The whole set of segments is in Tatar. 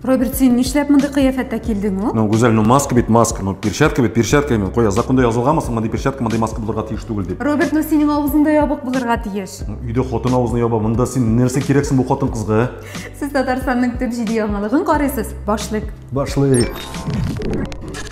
Роберт, син нишләп мондый кыяфәттә килдең ул? Ну, Гүзәл, ну маска бит маска, ну перчатка бит перчатка именно. Куя, законда язылганмы соң мондый перчатка, мондый маска булырга тиеш түгел дип. Роберт, ну синең авызыңда ябык булырга тиеш. Ну, өйдә хатын авызны яба, монда син нәрсә кирәксең бу хатын кызга? Ә? Сез Татарстанның төп җиде яңалыгын карыйсыз, башлык. Башлык.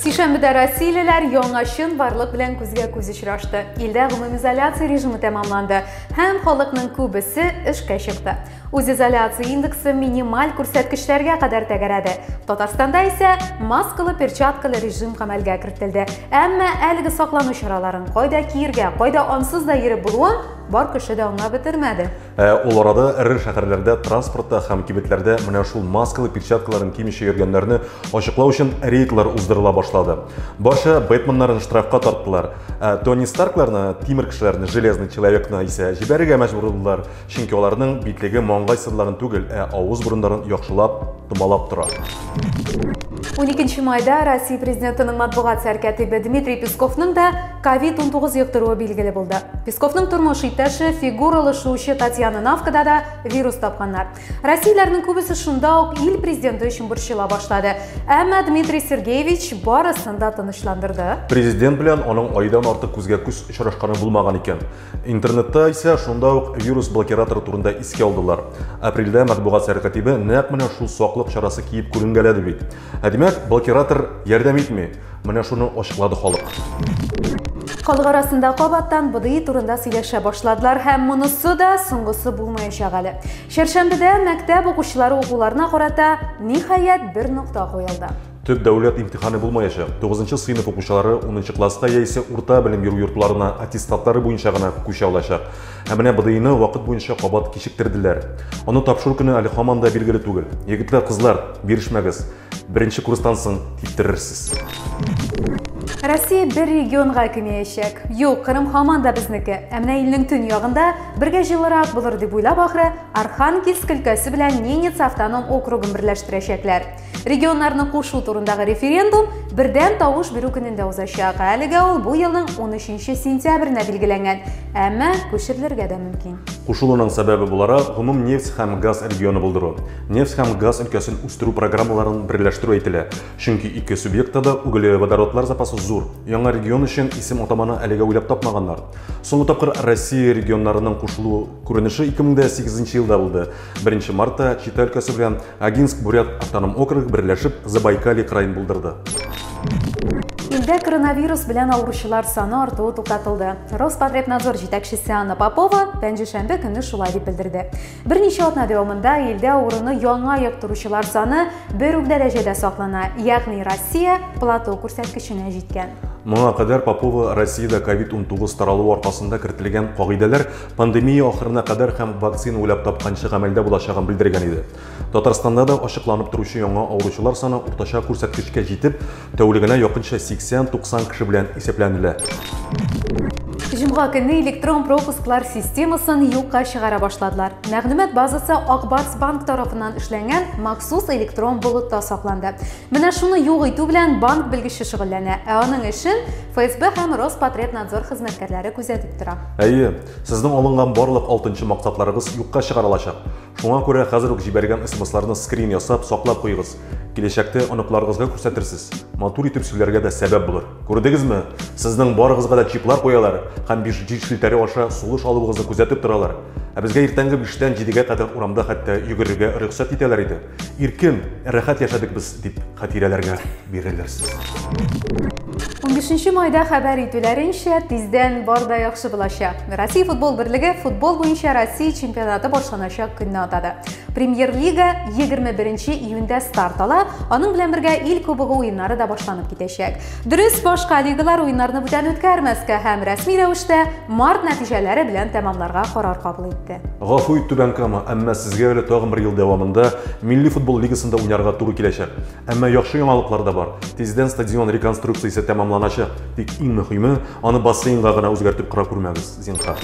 Сишәмбедә россиялеләр яңа чын барлык белән күзгә күз очрашты. Илдә гомумизоляция режимы тәмамланды. Һәм халыкның күбесе эшкә чыкты. Үзизоляция индексы минималь күрсәткечләргә кадәр тәгәрәде. Татарстанда исә маскалы перчаткалы режим гамәлгә кертелде. Әмма әлеге саклану чараларын кайда киергә, кайда ансыз да йөреп булуын бар кеше дә аңлап бетермәде. Ә, ул арада эре шәһәрләрдә транспортта һәм кибетләрдә менә шул маскалы перчаткаларын кимичә йөргәннәрне ачыклау өчен рейдлар уздырыла башлады. Барча бэтменнарын штрафка тарттылар. Ә, Тони Старкларны, тимер кешеләрне, железный человекны исә җибәрергә мәҗбүр булдылар, чөнки аларның битлеге маңгай сызларын түгел, ә авыз бурыннарын яхшылап томалап тора. 12 майда Россия президентының матбугат сәркәтибе Дмитрий Песковның да COVID-19 йоктыруы билгеле булды. Песковның тормыш иптәше, фигуралы шуучы Татьяна Навкада да вирус тапканнар. Россияләрнең күбесе шунда ук ил президенты өчен борчыла башлады. Әмма Дмитрий Сергеевич барысын да тынычландырды. Президент белән аның айдан артык күзгә күз очрашканы булмаган икән. Интернетта исә шунда ук вирус блокираторы турында искә алдылар. Апрельдә матбугат сәркатибе нәкъ менә шул саклык чарасы киеп күренгәләде бит. Ә димәк, блокиратор ярдәм итми. Менә шуны ачыклады халык. Халык арасында кабаттан БДИ турында сөйләшә башладылар һәм монысы да соңгысы булмаячак әле. Чәршәмбедә мәктәп укучылары укуларына карата ниһаять бер нокта куелды. Төп дәүләт имтиханы булмаячак. 9 нчы сыйныф укучылары 10 нчы класска яисә урта белем бирү йортларына аттестатлары буенча гына күчә алачак. Ә менә БДИны вакыт буенча кабат кичектерделәр. Аны тапшыру көне әле һаман да билгеле түгел. Егетләр, кызлар, бирешмәгез. Беренче курстан соң киптерерсез. Россия бер регионга кимеячәк. Юк, Кырым һаман да безнеке. Ә менә илнең төн ягында бергә җылырак булыр дип уйлап ахры, Архангельск өлкәсе белән Ненец автоном округын берләштерәчәкләр. Регионнарны кушу турындагы референдум бердәм тавыш бирү көнендә узачак. Әлегә ул бу елның 13 сентябренә билгеләнгән, әмма күчерелергә дә мөмкин. Кушылуның сәбәбе буларак гомум нефть һәм газ регионы булдыру, нефть һәм газ өлкәсен үстерү программаларын берләштерү әйтелә. Чөнки ике субъектта да углеводородлар запасы зур. Яңа регион өчен исем атаманы әлегә уйлап тапмаганнар. Соңгы тапкыр Россия регионнарының кушылу күренеше 2008 елда булды. Беренче мартта Чита өлкәсе белән Агинск Бурят автоном округы берләшеп Забайкалье краен булдырды. Илдә коронавирус белән авыручылар саны артуы туктатылды. Роспотребнадзор җитәкчесе Анна Попова пәнҗешәмбе көнне шулай дип белдерде. Берничә атна дәвамында илдә авыруны яңа йоктыручылар саны бер үк дәрәҗәдә саклана, ягъни Россия плато күрсәткеченә җиткән. Моңа кадәр Попова Россиядә COVID-19 таралуы аркасында кертелгән кагыйдәләр Пандемия ахырына кадәр һәм вакцина уйлап тапканчы гамәлдә булачагын белдергән иде. Татарстанда да ачыкланып торучы яңа авыручылар саны уртача күрсәткечкә җитеп, тәүлегенә якынча 80-90 кеше белән исәпләнелә. Җомга көне электрон пропусклар системасын юкка чыгара башладылар. Мәгълүмат базасы Акбарс банк тарафыннан эшләнгән махсус электрон болытта сакланды. Менә шуны юк итү белән банк белгече шөгыльләнә, ә аның эшен ФСБ һәм Роспотребнадзор хезмәткәрләре күзәтеп тора. Әйе, сезнең алынган барлык алтынчы максатларыгыз юкка чыгарылачак. Шуңа күрә хәзер үк җибәргән смсларны скрин ясап, саклап куегыз. Киләчәктә оныкларыгызга күрсәтерсез, матур итеп сөйләргә дә сәбәп булыр. Күрдегезме? Сезнең барыгызга да чиплар куялар һәм биш җил челтәре аша сулыш алуыгызны күзәтеп торалар. Ә безгә иртәнге биштән җидегә кадәр урамда хәтта йөгерергә рөхсәт итәләр иде. Иркен, рәхәт яшәдек без, дип хатирәләргә бирелерсез. 15 майда хәбәр итүләренчә, тиздән бар да яхшы булачак. Россия футбол берлеге футбол буенча Россия чемпионаты башланачак көнне атады. Премьер-лига 21 июньдә старт ала, аның белән бергә ил кубогы уеннары да башланып китәчәк. Дөрес, башка лигалар уеннарны бүтән үткәрмәскә һәм рәсми рәвештә март нәтиҗәләре белән тәмамларга карар кабул итте. Гафу ит, Түбән Кама, әмма сезгә әле тагын бер ел дәвамында Милли футбол лигасында уйнарга туры киләчәк. Әмма яхшы яңалыклар да бар. Тиздән стадион реконструкциясе тәмамланачак. Тик иң мөхиме, аны бассейнга гына үзгәртеп кыра күрмәгез, зинһар.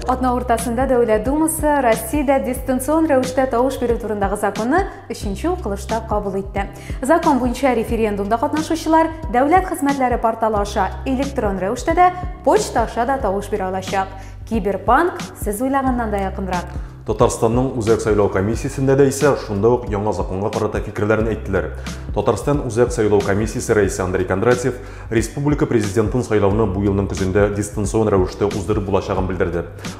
Атна уртасында Дәүләт Думасы Россиядә дистанцион рәвештә тавыш бирү турындагы законны өченче укылышта кабул итте. Закон буенча референдумда катнашучылар дәүләт хезмәтләре порталы аша электрон рәвештә дә, почта аша да тавыш бирә алачак. Киберпанк сез уйлаганнан да якынрак. Татарстанның үзәк сайлау комиссиясендә дә исә шунда ук яңа законга карата фикерләрен әйттеләр. Татарстан үзәк сайлау комиссиясе рәисе Андрей Кондратьев республика президентын сайлауны бу елның көзендә дистанцион рәвештә уздырып булачагын белдерде.